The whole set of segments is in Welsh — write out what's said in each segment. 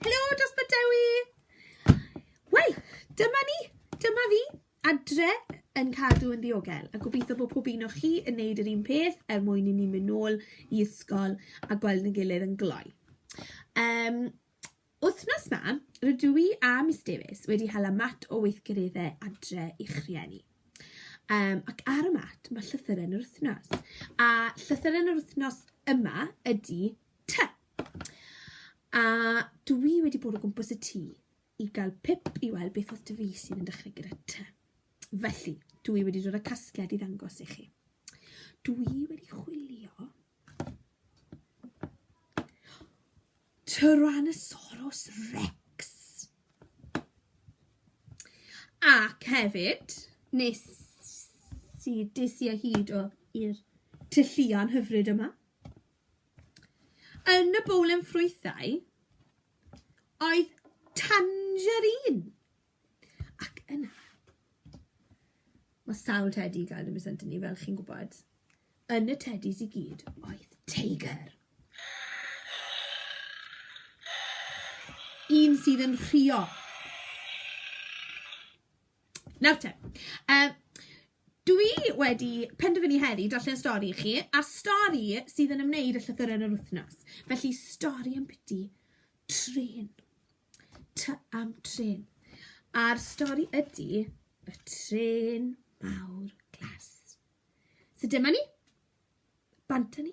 Helo, Dosbarth Dewi! Wel, dyma ni, dyma fi, adre yn cadw yn ddiogel. A gobeithio bod pob un o chi yn neud yr un peth er mwyn i ni mynd nôl i ysgol a gweld yn gilydd yn gloi. Um, wythnos ma, rydw i a Miss Davies wedi hala mat o weithgareddau adre i'ch rhieni. Um, ac ar y mat mae llythyren yr wythnos. A llythyren yr wythnos yma ydy T. A dw i wedi bod o gwmpas y tŷ i gael pip i weld beth oedd dy fys i'n dechrau gyda ty. Felly, dw i wedi dod â casgliad i ddangos i chi. Dw i wedi chwilio Tyrannosaurus Rex. Ac hefyd, nes i des i o hyd o i'r tylluan hyfryd yma. Yn y bowlen ffrwythau oedd tangerine! Ac yna, mae sawl tedi i gael yn Mis Anthony, fel chi'n gwybod. Yn y tedis i gyd oedd teigr! Un sydd yn rhuo. Nawr te, yy... Dw i wedi penderfynu heddi darllen y stori i chi, a'r stori sydd yn ymwneud â llythyren yr wythnos. Felly, stori am biti trên. Ty am trên. A'r stori ydy y trên mawr glas. So dyma ni. Bant â ni.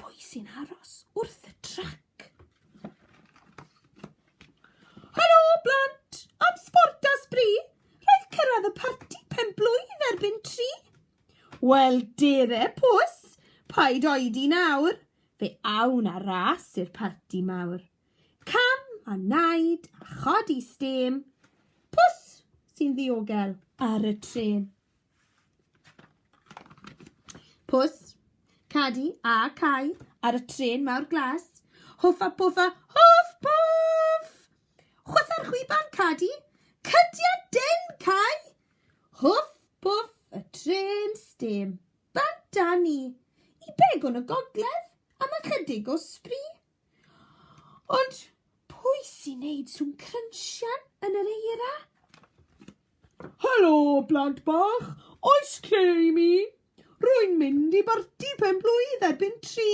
Pwy sy'n aros wrth y trac? Helo, blant! Am sbort a sbri, roedd cyrraedd y parti pen blwydd erbyn tri. Wel, dere pws, paid oedi nawr, fe awn a ras i'r parti mawr. Cam a naid a chodi stêm, pws sy'n ddiogel ar y trên. Pws, Cadi a Cai ar y trên mawr glas. Hwffa pwffa, hwff pwff! Chwytha'r chwiban, Cadi! Cydia den, Cai! Hwff pwff, y trên stêm. Bant â ni! I beg o'n y gogledd, am ychydig o sbri. Ond pwy sy'n neud sŵn crynsian yn yr eira? Helo, blant bach. Oes lle i mi? Rwy'n mynd i barti pen-blwydd erbyn tri.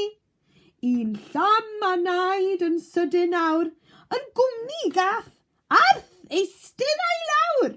Un llam a naid yn sydyn nawr, yn gwmni gath Arth eistedd a'i lawr.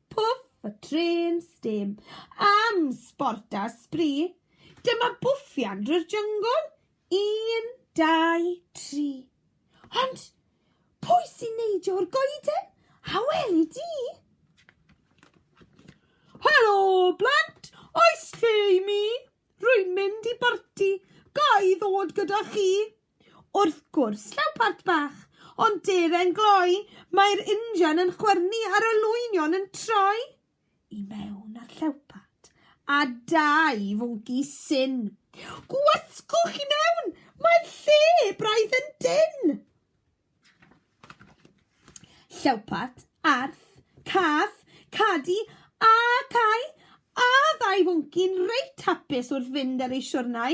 Pwff a trên stêm am sbort a sbri, dyma bwffian drwy'r jyngl, un, dau, tri. Ond pwy sy'n neidio o'r goeden? A weli di? Helo, blant! Oes lle i mi? Rwy'n mynd i barti. Ga i ddod gyda chi? Wrth gwrs, llaw part bach, ond deren gloi, mae'r injan yn chwyrnu a'r olwynion yn troi i mewn a'r llawpart, a dau fwnci syn. Gwasgwch i mewn! Mae'r lle braidd yn dynn! Llawpart, arth, cath, cadi, a cau, a ddau fwnci'n reit hapus wrth fynd ar eu siwrnai.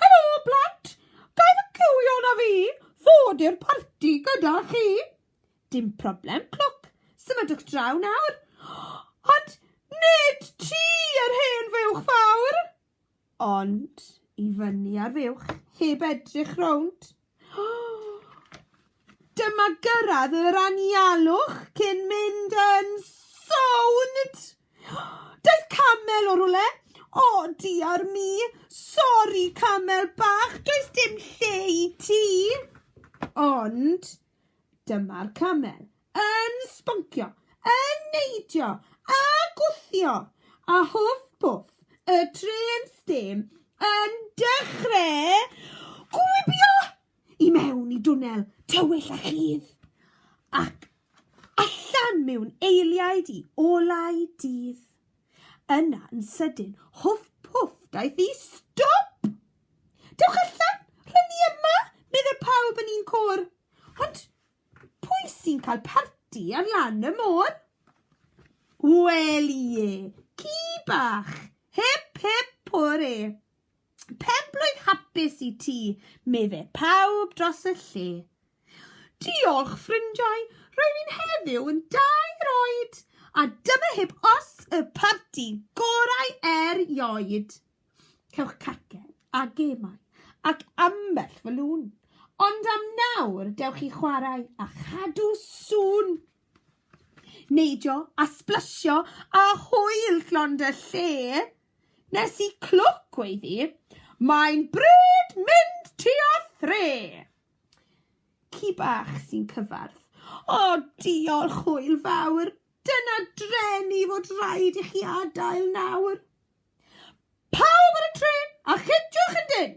Helo, blant! Ga i fy ciwio na fi ddod i'r parti gyda chi? Dim problem, Clwc. Symudwch draw nawr. Ond nid ti yr hen fuwch fawr! Ond i fyny ar fuwch, heb edrych rownd. Dyma gyrraedd yr anialwch cyn mynd yn sownd! Daeth camel o rwle! O, diar mi! Sori, camel bach, does dim lle i ti! Ond dyma'r camel, yn sboncio, yn neidio a gwthio, a hwff pwff, y trên stêm yn dechreu gwibio i mewn i dwnnel tywyll a chudd, ac allan mewn eiliaid i olau dydd. Yna yn sydyn, hwff pwff, daeth i stop! Dewch allan, rhyn ni yma, meddai pawb yn un côr. Ond Pwy sy'n cael parti ar lan y môr? Wel ie, ci bach! Hip hip pore! Penblwydd hapus i ti, meddai pawb dros y lle. Diolch, ffrindiau, roedd hi'n heddiw yn dair oed, a dyma hip os y parti gorau erioed. cewch cacen a gemau ac ambell fwlwn. Ond am nawr, dewch i chwarae a chadw sŵn! Neidio a sblasio a hwyl llond y lle. Nes i clwc weiddi, mae'n bryd mynd tua thre! Ci bach sy'n cyfarth. O, diolch, hwyl fawr! Dyna dreni fod rhaid i chi adael nawr. Pawb ar y trên, a chydiwch yn dyn!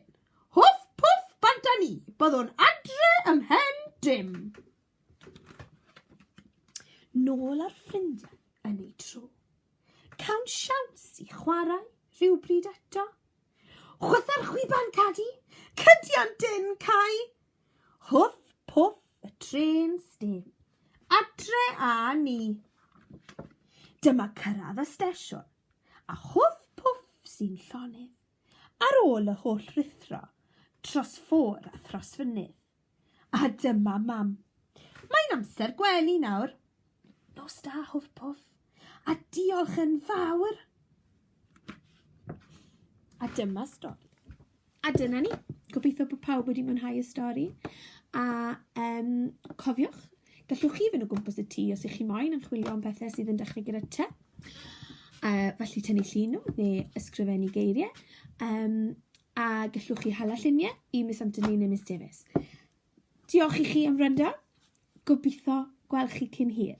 Hwff pwff bant a ni, byddwn adre ym mhen dim. Nôl ar ffrindiau yn ei tro. Cawn siawns i chwarae rhywbryd eto. Chwytha'r chwiban cadi, cydian dyn cau. Hwff pwff y tren stem. Adre a ni. Dyma cyrraedd y stesiwn. a chwff pwff sy'n llonydd, ar ôl y holl ruthro, tros ffôr a thros fynydd. A dyma Mam. Mae'n amser gwely nawr. Nos da, hwff pwff, a diolch yn fawr! A dyma stori. A dyna ni. Gobeithio bod pawb wedi mwynhau y stori. A um, cofiwch, gallwch chi fynd o gwmpas y tŷ os ych chi moyn yn chwilio am bethau sydd yn dechrau gyda te. Uh, felly tynnu llun nhw neu ysgrifennu geiriau. Um, a gallwch chi hala lluniau i Miss Anthony neu Miss Davis. Diolch i chi am rynda. Gobeithio gweld chi cyn hir.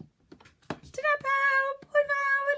Ta-ra pawb! Hwyl fawr!